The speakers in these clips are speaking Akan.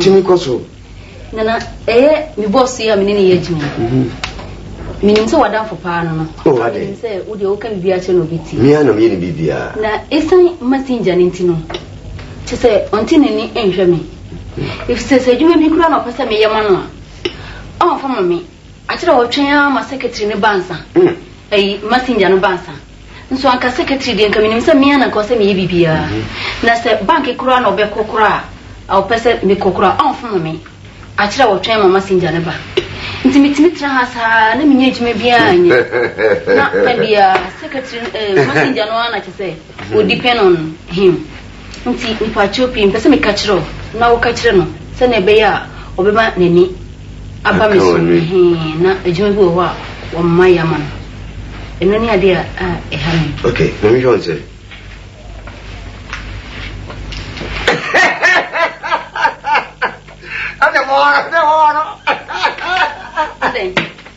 Tumi kɔ so. Nana, ɛyɛ me boss yi a me ne no yɛ adwuma yi. Menim sɛ w'adamfo paa no no. Oh, adɛn? Menim sɛ wo deɛ woka biribiara kyerɛ na obi tie. Me ara na meyɛ ne biribiara. Na ɛsiane Messenger no nti no, kyerɛ sɛ ɔnte n'ani nhwɛ me. Ɛfiri sɛ sɛ adwuma bi koraa na ɔpɛ sɛ meyɛ ma no a, ɔmfa ma me. Akyerɛ ɔtwɛn ara ma secretary no ba ansa, ɛyi, messenger no ba ansa. Nso anka secretary deɛ nka menim sɛ me ara na nka ɔsɛ meyɛ biribiara. Na sɛ bank koraa na ɔbɛkɔ koraa a ɔpɛ sɛ mekɔ koraa a ɔnfono me. Akyerɛ ɔtwɛn ma messenger no ba. Nti metumi tena ha saa na mennya adwuma biara nyɛ. Na da biara secretary no, ɛɛ, messenger no ara na kyɛ sɛ. Wo depend on him nti mpakyɛw pii mepɛ sɛ meka kyerɛ wo na wo ka kyerɛ no sɛnea ɛbɛyɛ a ɔbɛma n'ani aba me so ɛhee na adwuma bi wɔ hɔ a wɔn ma yɛ ama no ɛno ne adeɛ a ɛha me. Ok ma me hwɛ wɔn sɛ. Ɛna mo ara ɛna hɔ no. Adɛn.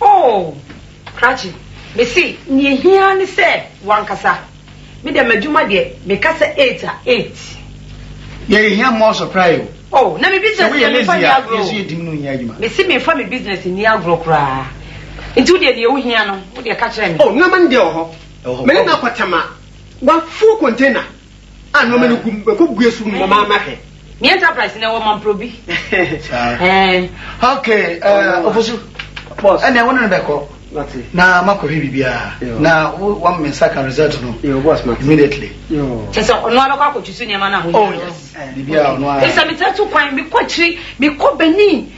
Oh! Krakye, mese nea ehia ara ne sɛ wankasa. Me deɛ m'adwuma deɛ meka sɛ eight a eight. Deɛ yɛhia more supply o. Oh! Na me business deɛ memfa nni agorɔ o. Mese memfa me business nni agorɔ koraa. Nti wodeɛ deɛ wohia no, wodeɛ ka kyerɛ me. Oh! Nneɛma no deɛ ɛwɔ hɔ. Me ne no akɔtɛm a, wafuo container. Ah nneɛma no gu mu bɛkɔ gu esu mu ma maa n'ahwɛ. Ni enterprise na ɛwɔ mamprobi. Okay eh, ofosu. Boss. Ɛnna ɛwɔ ne no bɛkɔ. Mate. Na makɔ hwɛ biribiara. Na wo wɔn mi nsa ka result no. Yo boss mate. Immediately. Yo. Kyɛ sɛ ɔno abɛkɔ akɔtwi so nneɛma no ahoyɛ. Oh yes. Biribiara ɔno ara. Ɛsɛ mi tɛ to kwan mi kɔ akyiri mi kɔ Benin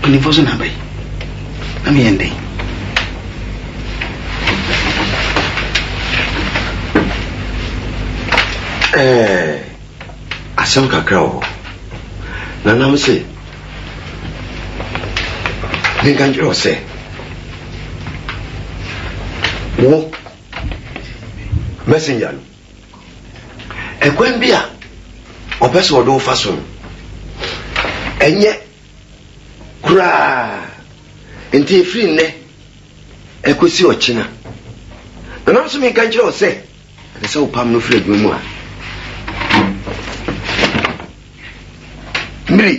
Mpanimfoɔ so na aba yi. Na meyɛ ndɛn? Ɛɛ asɛm kakra wɔ hɔ. Nanam se menka nkyerɛ wo sɛ wo messenger no Ɛkwan bi a ɔpɛ sɛ ɔde wo fa so no, ɛnyɛ koraa. Nti ɛfiri nnɛ ɛkɔsi ɔkyena na nam so menka nkyerɛ wo sɛ ɛsɛ sɛ wopam no firi adwuma mu a mmiri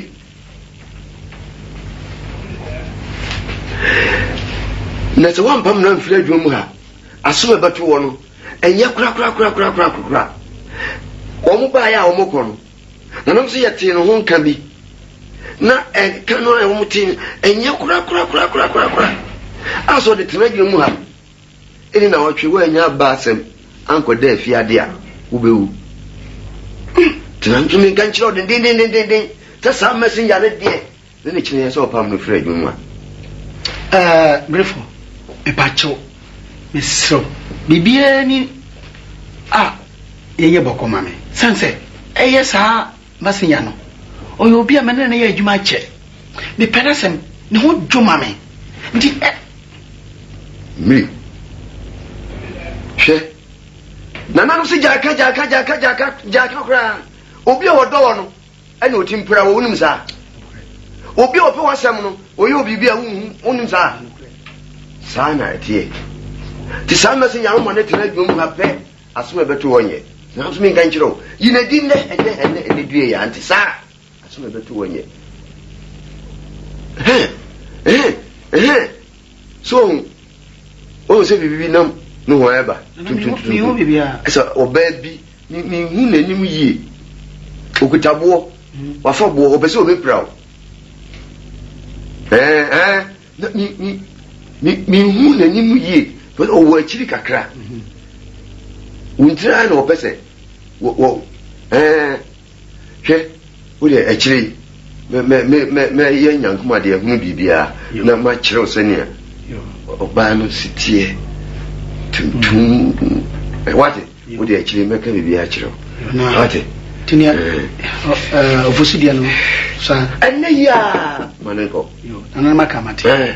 na sɛ woampam no amfiri adwuma mu a asom ɛbɛto wɔ no Ɛnyɛ korakorakorakorakorakora. Wɔn baeɛ a wɔkɔ no, nanom nso yɛtee no ho nka bi. Na nka no a wɔtee no, ɛnyɛ korakorakorakorakorakora. A sɛ ɔde tena adwene mu ha ne nnawɔtwe woannya aba asɛm ankɔda afiadeɛ a, wobɛwu. Nti na nso menka nkyerɛ wo dendendendendendenn sɛ saa messenger no deɛ Na ne kyerɛ yɛ sɛ ɔpam no firi adwuma mu a. Ɛɛ, Grefo, mepakyɛw, mesrɛ wo, biribiara ni a yɛnyɛ bɔkɔ ma me, esiane sɛ ɛyɛ saa Masenya no, ɔyɛ obi a me ne no ayɛ adwuma akyɛ. Mepɛ n'asɛm, ne ho dwo ma me, enti ɛ. Miri, hwɛ, nananom se gyaaka, gyaaka, gyaaka, gyaaka, gyaaka koraa, obi a wɔdɔ wɔn no. Ɛna ɔtim pira wɔ wonim saa obi a ɔpɛ w'asɛm no ɔyɛ obiribi a wonhu wonim saa saa na ɛteɛ nti saa mɛsɛ nyame ma ne tena adwuma mu ha pɛ asɛm ɛbɛto hɔ nyɛ nanso menka nkyerɛ wo yina di nnɛ ɛnyɛ ɛnɛ ɛnɛ due yɛ ante saa asɛm ɛbɛto hɔ nyɛ so ɔhu ɔhu sɛ biribi nam no hɔ ɛba tuntuntuntu ɛsɛ ɔbaa bi Menhu n'anim yie. Ɔkuta boɔ, wafa boɔ, ɔpɛ sɛ ɔbɛpira wo. Menhu n'anim yie, ɔwɔ akyiri kakra. Wo ntiri ara na ɔpɛ sɛ Hwɛ, wo deɛ, akyire yi, mɛ, mɛ, mɛ, mɛ, mɛyɛ nyankomadeɛhunu biribiara, na makyerɛ wo sɛdeɛ ɔbaa no si teɛ, tuntum, ɛ, wate, wo deɛ, akyire yi, mɛka biribiara akyerɛ wo. Wate? Nti nea, ɛ, ɔfosu deɛ no, saa. Ɛnnɛ yi ara, ma no nkɔ. Yo, nananom aka, mate. Ɛ.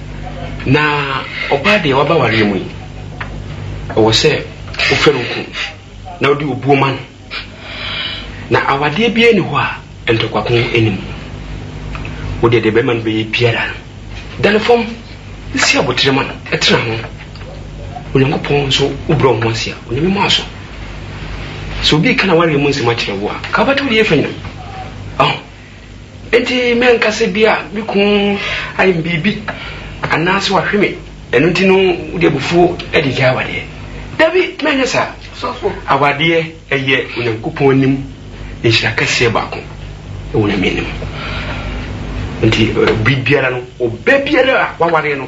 Na ɔbaa deɛ waba awareɛ mu yi, ɛwɔ sɛ wofɛ no nko na wode obuo ma no. Na awadeɛ biara nni hɔ a ntɔkwako nni mu. Wodeɛ deɛ bɛrima no bɛyɛ biara no, da no fam na si aboterɛ ma no, tena ho. Onyankopɔn nso wobrɛ wo ho ase a, Onyame ma wo so. Sɛ obi reka n'awareɛ mu nsɛm akyerɛ wo a, nka wobɛte wode yɛ fanyam. Ɔho. Enti me ankasa bi a me kun ayɛ me biribi anaasɛ wahwe me, ɛno nti no wode abufuo de regyae awadeɛ? Dabi, merenyɛ saa. Awadeɛ yɛ Onyankopɔn anim nhyira kɛseɛ baako wɔ Nyame anim. Enti bere biara no, ɔba biara a wawareɛ no,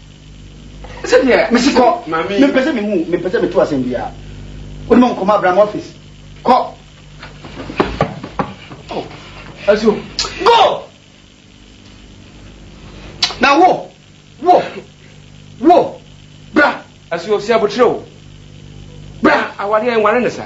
Ɛsɛ deɛ mesi kɔ mempɛ sɛ mehu mempɛ sɛ meto asɛm biara wode ma nkɔmɔ abram office kɔ oh, ɛso go na wo wo wo bra ɛso sɛ abotrɛ o bra awadeɛ nware ne sa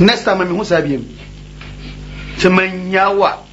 next time mehu saa biam sɛ manya wo a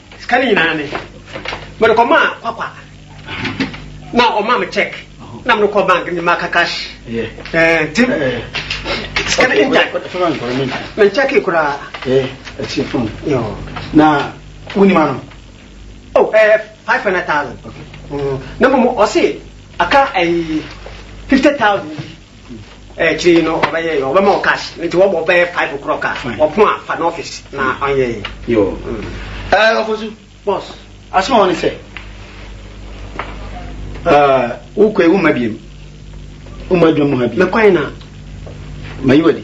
sika no nyinaa me mede kɔmaa kwakwa na ɔma me check na mede kɔ bank ne maka cash nti sika no ngya menkyɛke koraa na wonima no oh, eh, 500000 na mmom ɔse aka eh, 50000 bi Akyire yi no ɔbɛyɛɛ yɛ ɔbɛma wo cash nti wɔbɔ bɛyɛ five o'clock a ɔpon a fa no office na ɔnyɛ yɛ. Yoo. Ɛɛ mm. ɔfosu. Boss. Asoma wɔn sɛ ɛɛ wokɔ ewu ma biem woma adwuma mu ha bi. Mɛkwan na. Mayi wadi.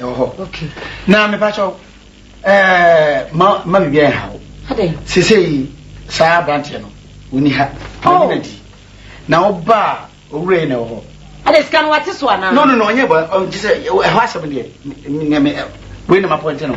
ɛwɔ hɔ na mepa kyɛw ɛɛ ma ma biribi ayɛ ha wo sesei saa aberanteɛ no wɔni ha wɔni na di na woba a owura yi na ɛwɔ hɔ ɛde sika no wate so anaa no no no ɔnyɛ bɔ ɔnti sɛ ɛhɔ asɛm deɛ wei na mapɔnte no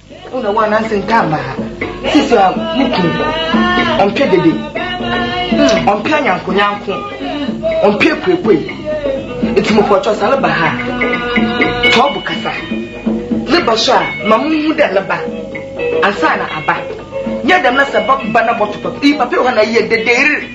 Wo na wo ananse nka mma ha. Sisi a ne kun ɔmpɛ dede. Hmm, ɔmpɛ anyankonyanko. Ɔmpɛ kuekue. Eti mo kɔtɔ sa ne ba ha. Tɔɔ bo kasa. Ne ba so a ma mo hu dɛ ne ba. Ansa na aba. Nyɛ dɛm na sɛ ba ba na bɔtɔ papa. Iyi papa yɛ hɔ na yɛ dedeer.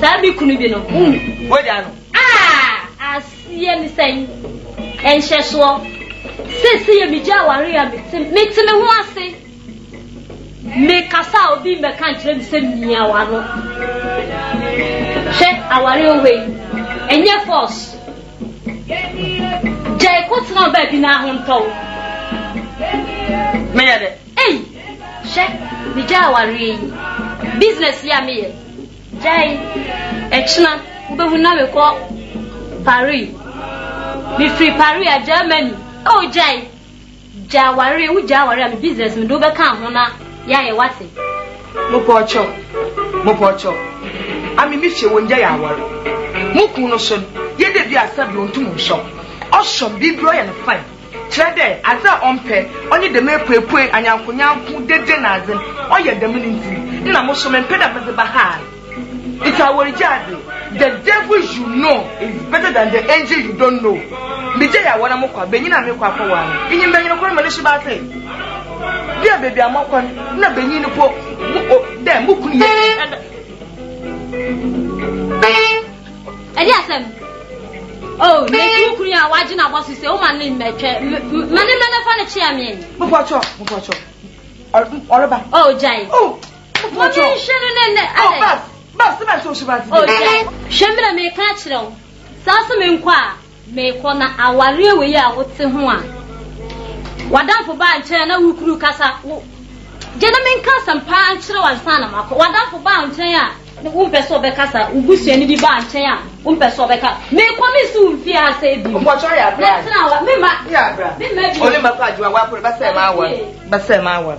Saa me kunu bi no hu wagya no. Ah! Aseɛ ne sɛn? Nhyɛsoɔ. Seesei yɛ megya aware a mete mete me ho ase. Mekasa a obi mmɛka nkyerɛ me sɛ mia wano. Hwɛ aware wɔ hɔ yi. Ɛnyɛ force. Gyae kɔtena baabi na ahontɔw. Meyɛ dɛ. Ei! Hwɛ, migyaa awareɛ yi, business yi a meyɛ, gyae, ɛkyena wobɛhu na mekɔ Paris, mefiri Paris a, Germany, oh gyae, gya awareɛ, wogyaa awareɛ a me business mede wo bɛka ho na yɛayɛ wate. Mopɔɔkyɛw, mopɔɔkyɛw, ame me fie wɔngyae aware, mo kunu no so no, yɛ dɛ bi a sɛbe ɔntum nhyɛw, ɔhyɛm, biribiara ɔyɛ no fine. Kyerɛ dɛ, adze a ɔmmpɛ, ɔnye dɛm epuepue, anyankonyanko, dede na adze, ɔyɛ dɛm no ntsi na mo so memmpɛ dɛ medze ba ha. Ntsi aɔregye adze, the devil you know is better than the angel you don't know, megyae awɔ na mokɔ a, banyin a merekɔ akɔwar no, minyim dɛ nyɛn kor mene Shebase, bi a beebi a mɔkɔ no nna banyin no po mo, dɛ mo kun yɛ. ɛde asɛm oh mesi wo kunu a wagye n'abɔ so sɛ woma ne mmɛtwɛ ma ne mmɛ nafa no kyea me ani mopɔkyɔ mopɔkyɔ ɔreba oh gyae oh mopɔkyɔ mɔmɛnhwɛ no ne nnɛ oh bab bab sɛ mɛsɛ wo hyɛ baa ti oh gyae hwɛ mmerɛ meka kyerɛ wo saa so menkɔ a Meekɔ na awareɛ wei a wote ho a w'adamfo baa nkyɛn a na wo kunu kasa wo gye na menka asɛm paa nkyerɛ wo ansa na makɔ w'adamfo baa wo nkyɛn a wompɛ sɛ ɔbɛkasa wo busuani bi baa nkyɛn a wompɛ sɛ ɔbɛka meekɔ mensi wo mfie ha sɛ bi mɛtena wa mema mema bi ɔne mɛkɔ adwoa wakɔ bɛsɛ ma awar bɛsɛ ma awar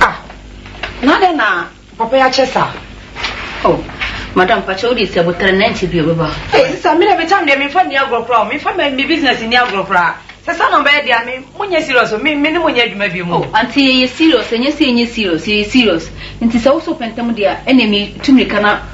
Ah, na dɛ na papa yi akyɛ saa? Oh, madam pakyɛ wode sɛ botere na nkyɛ bi ɔbɛba. Hey, sisa, me dɛ me tam deɛ memfa nni agorɔ koraa o, memfa me me business nni agorɔ koraa. Sɛ saa na ɔbɛyɛ deɛ a, me mo nyɛ serious o, me me ne mo nyɛ adwuma bio mu. Oh, auntie yɛyɛ serious, ɛnyɛ sɛ yɛnyɛ serious, yɛyɛ serious. Nti sɛ wo so wopɛ ntɛm deɛ a, ɛnneɛ me tu mmirika na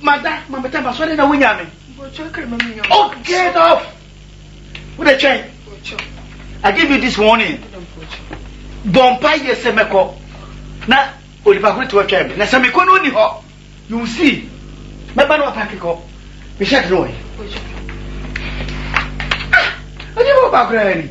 Mada ma meda ma sɔre na wonya me. Oh get off! Wo de twɛn. I give you this warning. Bɔ mpa yɛ sɛ mɛkɔ na onipa koro te ɔtwɛn me na sɛ mekɔ no onni hɔ you will see mɛba no apake kɔ me shirt no wɔ he. Ah! Ɛnyɛ bɔ ɔbaa koraa ni.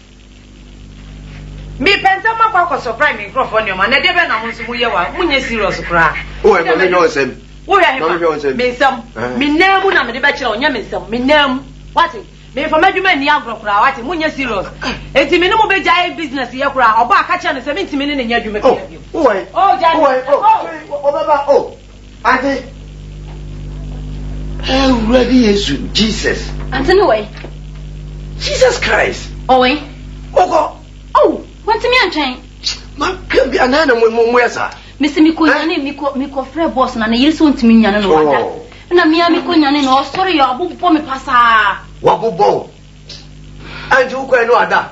Mepɛ ntɛm makɔ akɔ supply me nkurɔfoɔ nneɛma na ɛdeɛ bɛn na mo nso moyɛ wa monyɛ serious koraa. Oh ɛma me hwɛ ɔnsɛm. Wohwɛ he fa? Me nsɛm. Me nan mu na mede bɛkyerɛ wo nyɛ me nsɛm. Me nan mu. Wate? Me nfa m'adwuma nni agorɔ koraa wate monyɛ serious. Enti me ne mo bɛgyae business yɛ koraa ɔbaa ka kyerɛ no sɛ mentumi ne no nyɛ adwuma biara bio. Oh why? Oh gyae me. Oh. Ɔbɛba oh. Ade Awurade Yesu, Jesus. Ante ne wai? Jesus Christ. Ɔwai? Ɔkɔ. Oh, wantumi antwɛn. Maka bi anaa na mo mo yɛ saa. Mesi mi ko nyane mi ko mi ko frɛ bɔs na ne yere sɛ ɔntumi nyane na wada. Oh. Na mia mi ko nyane na ɔsɔre yɛ ɔbobɔ me pasaa. Wabobɔ o. Anti wokɔɛ no ada.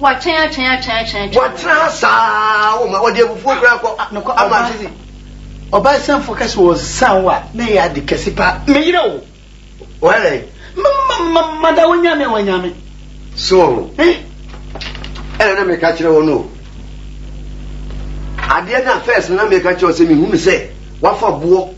Watwɛn atwɛn atwɛn atwɛn atwɛn. Watena ha saa o ma ɔde abufuo koraa kɔ ama asisi. Ɔbaa sianfoɔ ka sɛ ɔnsan wo a na ɛyɛ ade kɛse paa me yere o. Wayɛ dɛn? Ma ma da wanya me a wanya me. So wɔ ho. Eh. Ɛna na meka kyerɛ wɔn o. Adeɛ na first na meka kyerɛ wɔn sɛ mehunu sɛ wafa boɔ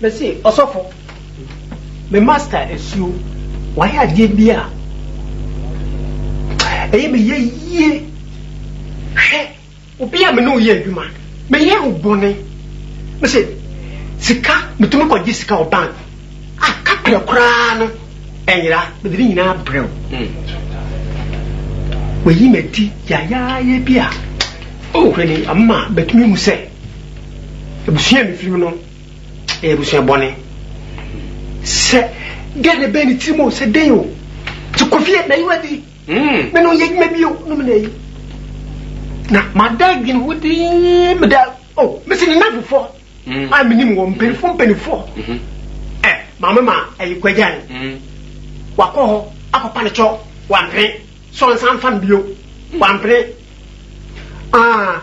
Mese, Ɔsɔfo, me master suro. Wayɛ adeɛ bi a ɛyɛ me ya yie. Hwɛ, obi a me ne wo yɛ adwuma, meyɛɛ wo bɔne. Mese, Sika, metumi kɔgye sika wɔ bank a kaprɛ koraa no ɛnyera. Mede ne nyinaa abrɛ wo. Wayi m'adi yayaaya bi a, oh, hwɛ ni, ama matumi ahu sɛ. abusua a mefiri mu no ɛyɛ abusua bɔne sɛ dɛn na ɛbɛn ne tirim o sɛ dɛn o sɛ kofie na yiwa di hmm. me no yɛ adwuma bi o no me na yi na mada adwene ho dee meda o oh, mese ne nafofoɔ hmm. a menim wɔ mpanimfoɔ mpanimfoɔ mhm. ɛ eh, maame ma ayi kwagyan hmm. wakɔ hɔ akɔpa ne kyɔ wampene sɛ ɔnsan fa no bio wampene ah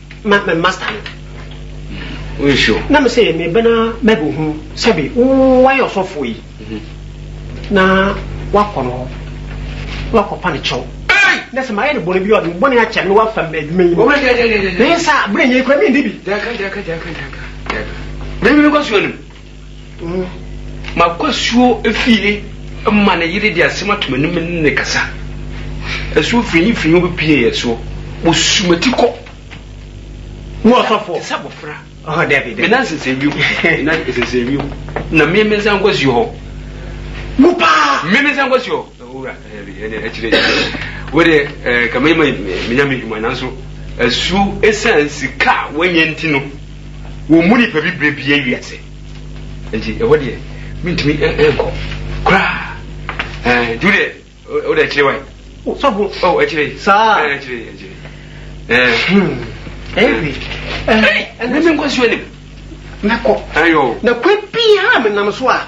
ma me master no woyɛ sure na me sɛ me bɛna mɛbɛ hu sɛbe woayɛ ɔsɔfoɔ yi mhm. na wakɔ no hɔ wakɔpa no kyɛw na sɛ mayɛ no bɔne bi a ɔde me bɔne akyɛ no wafa me adwuma yi mu na yɛ sɛ berɛ nyɛ kura mendi bi mekɔ so anim wu. M'akwasuo fie ma ne yere de asɛm ato m'anim ne no kasa. Asuo firinyi firinyi wobɛpue yɛ soɔ, wɔsu m'ati kɔ. Wo ɔsɔfoɔ. Te sɛ abɔfra. Ɔhɔ daabi daabi. Me nan sensɛn wiem, me nan sensɛn wiem, na me me nsa nkɔ asuo hɔ. Wo paa. Me me nsa nkɔ asuo hɔ. Owura, ɛbi ɛdeɛ akyire akyire. Wo deɛ ɛɛ kama yi ma me nya me hwuma nanso asuo ɛsan sika a wanya nti no. wɔn mu nipa bi bere bie wiase nti ɛhɔ deɛ mentumi nkɔ koraa ɛɛ tu deɛ o deɛ akyire wae sɔfo ɔ akyire saa ɛɛ akyire akyire ɛɛ ɛyɛ ɛɛ ɛna mi nkɔ suo nim mɛkɔ ayɔ na kwan pii ha menam so a.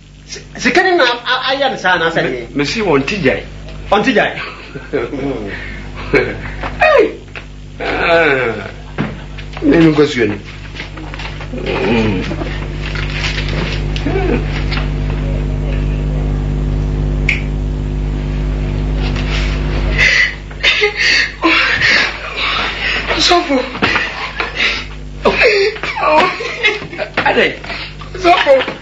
Sika ne na ayɛ no saa anaasɛ deɛ? Mesi wɔn ti gyae. Wɔn ti gyae. Mene no nkɔsuo ni. Sɔfo. Adai. Sɔfo.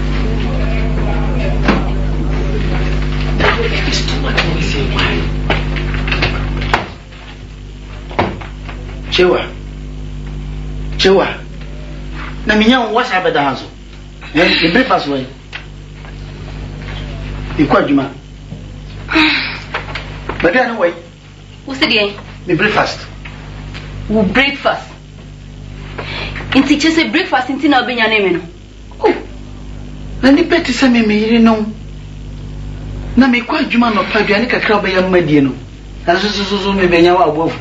Chewa, Chewa, na menya wo wasa abɛda ha so. Eh, me breakfast wɔ yi. Mekɔ adwuma. Baabi a ne wɔ yi. Wo se deɛ? Me breakfast. Wo breakfast? Nti kyɛ sɛ breakfast nti na wobɛnya ne me no? Oh, na nnipa te sɛ me, me yerenom, na mekɔ adwuma anɔpa, aduane kakra a wobɛyɛ ama die no, nanso so so so mebɛnya wo a wo bo afu.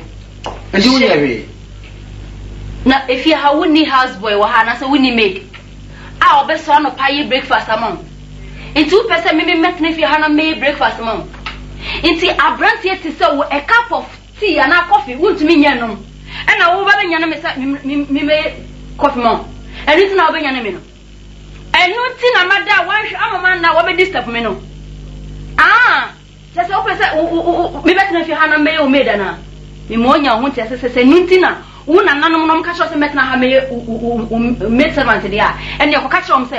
Enti wonyɛ hwee. Na efie ha wonni house boy wɔ ha anaasɛ wonni maid a ɔbɛsɔre anɔpa ayɛ breakfast ama wo. Enti wopɛ sɛ me me mɛtena fie ha na mɛyɛ breakfast ma wo. Enti aberanteɛ te sɛ wo, a cup of. Tea anaa kɔfe wontumi nyɛ nnom. Ɛna wo bɛbɛnyane me sɛ memmɛyɛ kɔfe ma wo. Ɛno nti na wobɛnyane me no. Ɛno nti na mada a woanhwɛ ama manna a woabɛdisturb me no. Ah! Kyerɛ sɛ wopɛ sɛ mebɛtena fie ha na mɛyɛ wo maid anaa? Mema woanya wo ho nteaseɛ sɛ sɛ ɛno nti na wo nananom no wɔka kyerɛ wo sɛ mɛtena ha mɛyɛ wo maidservant deɛ a, ɛnneɛ kɔka kyerɛ wɔn sɛ,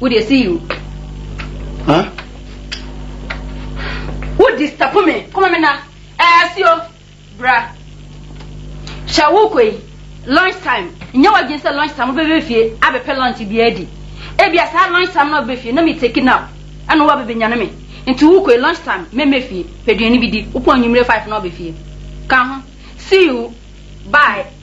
Wo deɛ see you. Huh? Wo disturb me. Kɔma me na. Eh, asio. Bra. Hyɛ wo kɔ yi. Lunch time. Nyɛ w'adwene sɛ lunch time wobɛbɛ fie abɛpɛ lunch bi adi. Ebia saa lunch time na wobɛbɛ fie na me take nap. Ɛna wabɛbɛ nyane me. Nti wo kɔ yi lunch time mɛmɛ fie. Pɛ duane bi di. Wopɔn anwummere five na wabɛ fie. Ka ho. See you. Bye.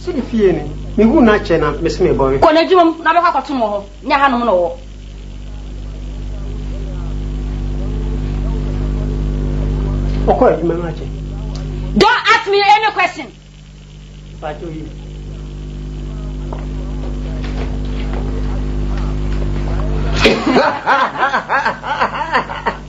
Sɛ me fie ni, mehuu no akyɛ na mese mebɔwe. Kɔ n'adwuma mu na bɛkɔ akɔtom wɔ hɔ, nyɛ hanom na ɔwɔ. Ɔkɔɔ adwuma no akyɛ. Don't ask me any question. Mpakyɛw yi.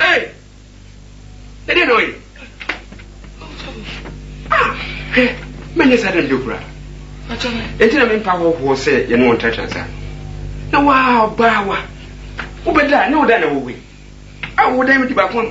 Ei! Ɛdeɛn na ɔyɛ? Ah, hwɛ, mɛnyɛ saa da no bio koraa. Enti na mempa hɔhoɔ sɛ yɛne wɔn tratra nsa. Na waa ɔbaa wa, wobɛda a ne wo dan na wowei. A wo dan mu di baako ama.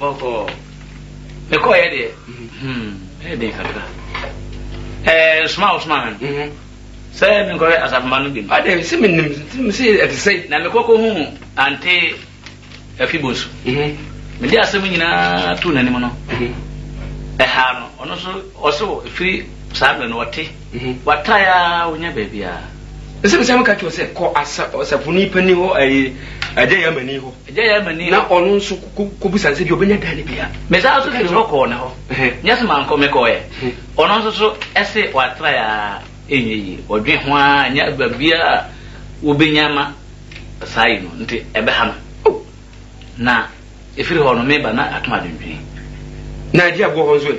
Bɔkɔɔ. Mekɔɔeɛ deɛ, ɛyɛ den kakra. Ɛɛ soma a wɔsomaa me no, sɛ menkɔhwɛ asafomma no bi no. Adɛn sɛ menim sɛ ɛte sɛ. Na mekɔ kɔhuu Ante Afi Bonsu. Mede asɛm nyinaa too n'anim no, ɛhaa no. Ɔno nso, ɔse wɔ ɛfiri saa berɛ no, ɔte. Watae ara wonya baabi a. Ɛsɛ mesan meka kyerɛ wo sɛ kɔ ɔsafonin panin hɔ, ɛyɛ Agya Yamani hɔ. Agya Yamani hɔ. Na ɔno nso kɔbisa no sɛ bi ɔbɛnya dan no bi a. Mesan nso firi hɔ kɔɔ ne hɔ. Nyɛ sɛ mankɔ, mekɔeɛ. Ɔno nso so se watrae ara ɛnyɛ yie. Ɔdwen ho ara ɛnyɛ baabiara a wɔbɛnya ma saa yi no nti ɛbɛha no. Na ɛfiri hɔ no meba na atom adwendwene. Na agye aboɔ hɔ nso ɛ?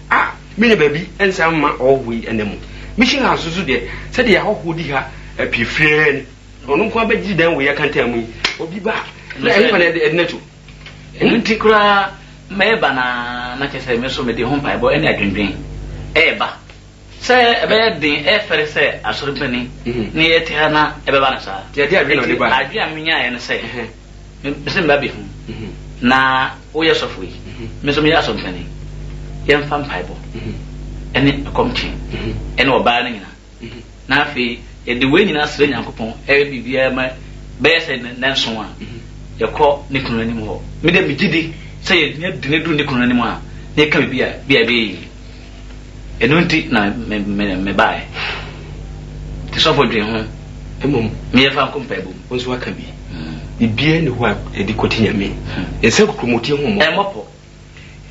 A Me ne baabi nsan mma ɔhɔho yi nna mu. Mission House nso deɛ, sɛdeɛ ahɔhoɔ di ha pii firi ara ni. Ɔno nko ara bɛgye dan wei akantan mu yi. Obi ba a, na ɛhefa na ɛde no to? Ɛno nti koraa mɛba no ara na kyerɛ sɛ me nso mede ho mpaebɔ ne adwendwen reba sɛ ɛbɛyɛ den, ɛyɛ fɛre sɛ asɔre panin ne yɛte ha na ɛbɛba no saa. Nti adwene a menyaeɛ ne sɛ. Mese mma bi ho na woyɛ sɔfo yi, me nso meyɛ asɔmpani. Yɛmfa mpaebɔ ne ɛkɔm twe ne ɔbaa no nyinaa. Na afei yɛde wei nyinaa srɛ Nyankopɔn yɛ biribiara ma bɛyɛ sɛ nnanson a yɛkɔ ne kunu no anim hɔ. Me deɛ megye di sɛ yɛnya dini duru ne kunu no anim a na yɛka biribi a ebia ɛbɛyɛ yie. Ɛno nti na mebaeɛ. Nti sɔfo dwen ho. Mmom. Meyɛ fa nko mpaebɔ mu. Wo nso aka bi. Biribiara nni hɔ a ɛde kɔte Nyame. Hmm. Nsa kukurumɔtie ho mmɔ. Ɛmmɔ pɔ.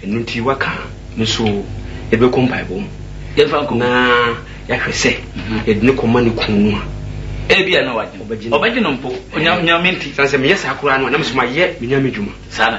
Ɛno nti waka me nso ɛbɛkɔ mpaebɔ mu. Yɛmfa nko. Na yɛahwɛ sɛ mhm. yɛde ne kɔma ne kun no a. Ebi a na wagye. Ɔbɛgye no mpo. Onyame nti. Sane sɛ meyɛ saa koraa no a na mesoma yɛ menya me dwuma. Saa na.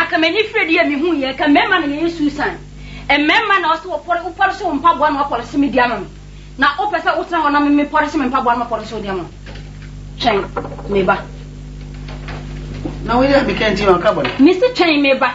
Aka m'ani frɛ deɛ me hu yɛ ka mɛma na yɛyɛ Susan mɛma na ɔsɛ wɔpɔre wo pɔre so wo mpa boa na wɔpɔre so me di ama me na wo pɛ sɛ wo tena hɔ na me me pɔre so me mpa boa na wɔpɔre so wo di ama twɛn me ba na wo yɛ me kɛ nti na ɔka bɔ ne me se twɛn me ba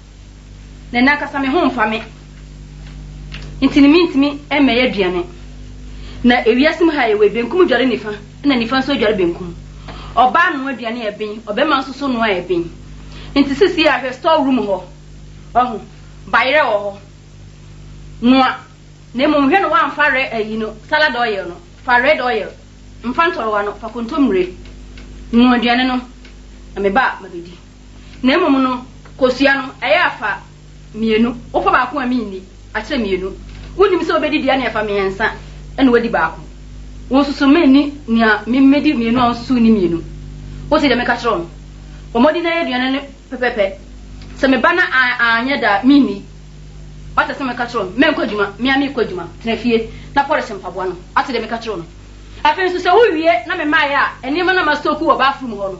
na nankasa me ho mfa me nti no mentumi mmɛyɛ aduane. Na ewiase mu ha yɛwɔ yi, benkum dware nifa na nifa nso adware benkum. Ɔbaa noa aduane a ɛben, ɔbarima nso so noa a ɛben. Nti sisi a hwɛ store room hɔ, wahu, bayerɛ wɔ hɔ, noa na mmom hwɛ no woamfa rɛ ayi no salad oil no, fa red oil, mfa ntɔrewa no, fa kontommire, noa aduane no na meba a mabɛdi. Na mmom no, kosua no, ɛyɛ afa mmienu. Wofa baako a, menni. Akyerɛ mmienu. Wonnim sɛ wobɛdi deɛ ɛne afa mmiɛnsa na woadi baako. Wonsusu menni nea memmɛdi mmienu a wonsusu nni mmienu. Wote deɛ meka kyerɛ wo no? Bɔ mmɔden na yɛ aduane no pɛpɛpɛ. Sɛ meba na anyɛ da a, menni. Woate sɛ meka kyerɛ wo no? Mɛnkɔ adwuma. Me ara merekɔ adwuma. Tena fie na pɔlehye mpaboa no. Woate deɛ meka kyerɛ wo no? Afei nso, sɛ wowie na memaeɛ a, nneɛma no a mastɔku wɔ bathroom hɔ no,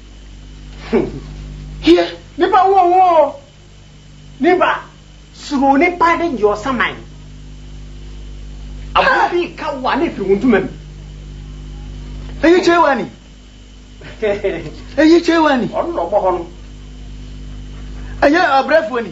Hum. Hie, nipa wo ho o. Nipa, suro nipa de gye ɔsaman. Aboa bi reka wo a na efiri wo ntoma mu. Eyi kyɛe wa ni. Eyi kyɛe wa ni. Ɔno na ɔbɔ hɔ no. Ɛyɛ ɔbrɛfoɔ ni.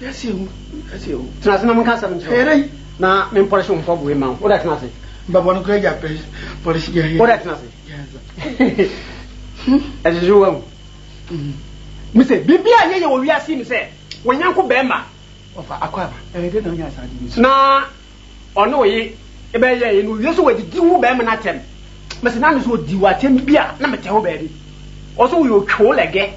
Tena ase na menka asɛm nkyerɛ wo, na mempɔlehye wo mfɔboe mma wo. Wo dɛ tena ase. Wo dɛ tena ase. Ɛgyegye wo ahu. Mise, biribi a ɛnyɛ yɛ wɔ wiase yi mu sɛ wɔanyanko barima. Na. Ɔne oye bɛ yɛ ye no owie so wadidi wo bɛɛma no atɛm mese na no so odi wo atɛm bi a na me tɛ wo baabi ɔso wo yɛ otwe wo lɛgɛ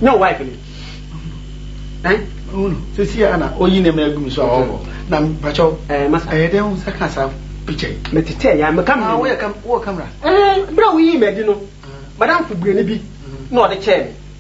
nyɛ wo wife no ɛn sisi a na oyi ne mɛ gumi so a ɔbɔ na mpakyɛw ɛɛ masa ɛyɛ dɛ wo sɛ ka saa picture yi me tete ya me kamera ah wo yɛ kam wo camera ɛɛ bra wo yi mɛ di no madam fo burani bi na ɔde kyɛɛ me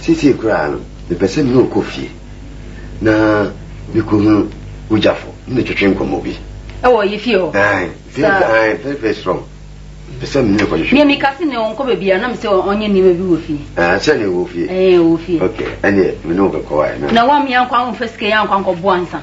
Seesei koraa no, mepɛ sɛ me ne wo kɔ fie na mekohunu wo gyafo ne no twetwe nkɔmmɔ bi. Ɛwɔ yɛ fie hɔ? Ae, very, ae, very, very strong. Mepɛ sɛ me ne no kɔtwetwe. Nea meka se nea ɔnkɔ baabiara na mesɛ ɔnyɛ nneɛma bi wɔ fie. Ah, sɛ nea ɔwɔ fie? Ɛɛ, ɔwɔ fie. Okay, ɛneɛ me ne wo bɛkɔ ae na. Na woammea nkɔ a womfa sika yi ankɔ ankɔboa ansa?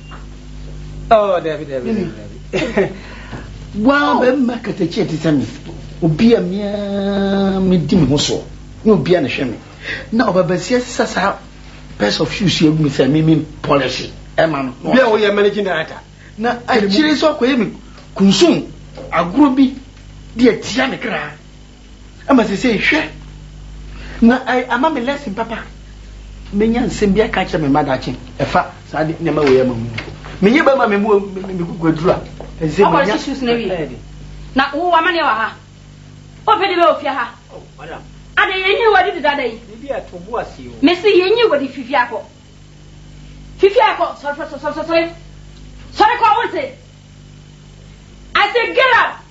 Oh, David, David, David, David. Wow, bɛmma katakyi ɛte sɛ me. Obi a mea medi me ho soɔ ne obi a ne hwɛ me. Na ɔbabasia sisa saa pairs of shoes yi agu me sɛ me me polish ɛma no. Bia woyɛ managing director. Na akyire sɛ ɔkɔyɛ me kunsum agorɔ bi de atia me kra. Ɛma seesei hwɛ na ɛɛ ama me lesson papa. Menya nsɛm bi aka akyerɛ me mma daakye ɛfa saa ade nneɛma wei ama mu. Meyɛ bɛma me mu me kuku aduru a ɛsɛ sɛ menya. Ɔkɔre shoes na wie. Na wo wɔ amaneɛ wɔ ha. Ɔpɛ de bɛ wɔ fie ha. Oh madam. Ade yɛnyi wɔ de deda da yi. Bibi a to bo ase o. Mesi yɛnyi wɔ de fifie akɔ. Fifie akɔ sɔre sɔre sɔre sɔre sɔre. Sɔre kɔ wonte. I say get up.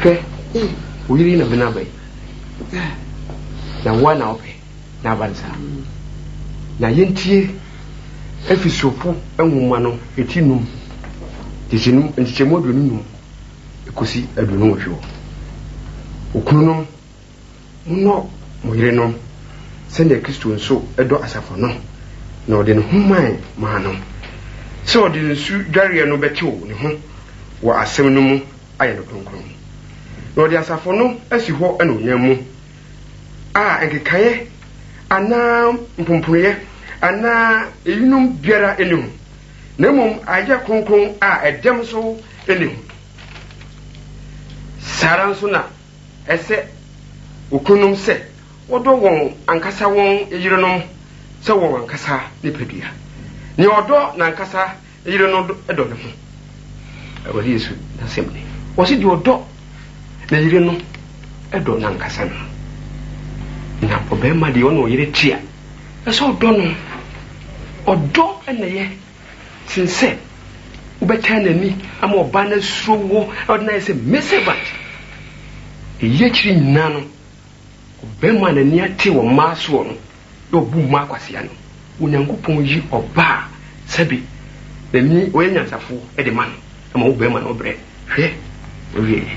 Hwɛ, wo yere yi na mene aba yi, na wo ara na wopɛ na aba no saa. Na yɛntie Efesofo nwoma no ti nnum, nkyekyɛmu aduonu nnum kosi aduonu nwɔtwe wɔ. Okununom. Monnɔ mo yerenom sɛnea Kristo nso dɔ asafo no, na ɔde ne ho mae maa no, sɛ ɔde nsu dwareɛ no bɛtew ne ho wɔ asɛm no mu ayɛ no kronkron, na ɔde asafo no asi hɔ anuonyam mu, a nkekaeɛ anaa mpomponoeɛ anaa eyinom biara nni ho, na mmom ayɛ kronkron a ɛdɛm nso nni ho. Saa ara nso na Ɛsɛ okununom sɛ wɔdɔ wɔn ankasa wɔn yerenom sɛ wɔn ankasa nipadua. Nea ɔdɔ n'ankasa yere no dɔ ne ho. Awurade Yesu n'asɛm ni. Ɔse deɛ ɔdɔ ne yere no dɔ n'ankasa ne ho. Na ɔbarima deɛ ɔne ɔyere te a, ɛsɛ ɔdɔ no. Ɔdɔ na ɛyɛ. Sen sɛ wobɛtan n'ani ama ɔbaa no asuro wo na ɔde no ayɛ sɛ male servant. Eyi akyiri nyinaa no, ɔbarima a n'ani ate wɔ mmaa soɔ no na ɔbu mmaa kwasea no, Onyankopɔn yi ɔbaa a sɛbe n'ani, ɔyɛ nyansafoɔ de ma no, na ma ɔbarima no brɛ. Hwɛ w'awieɛ!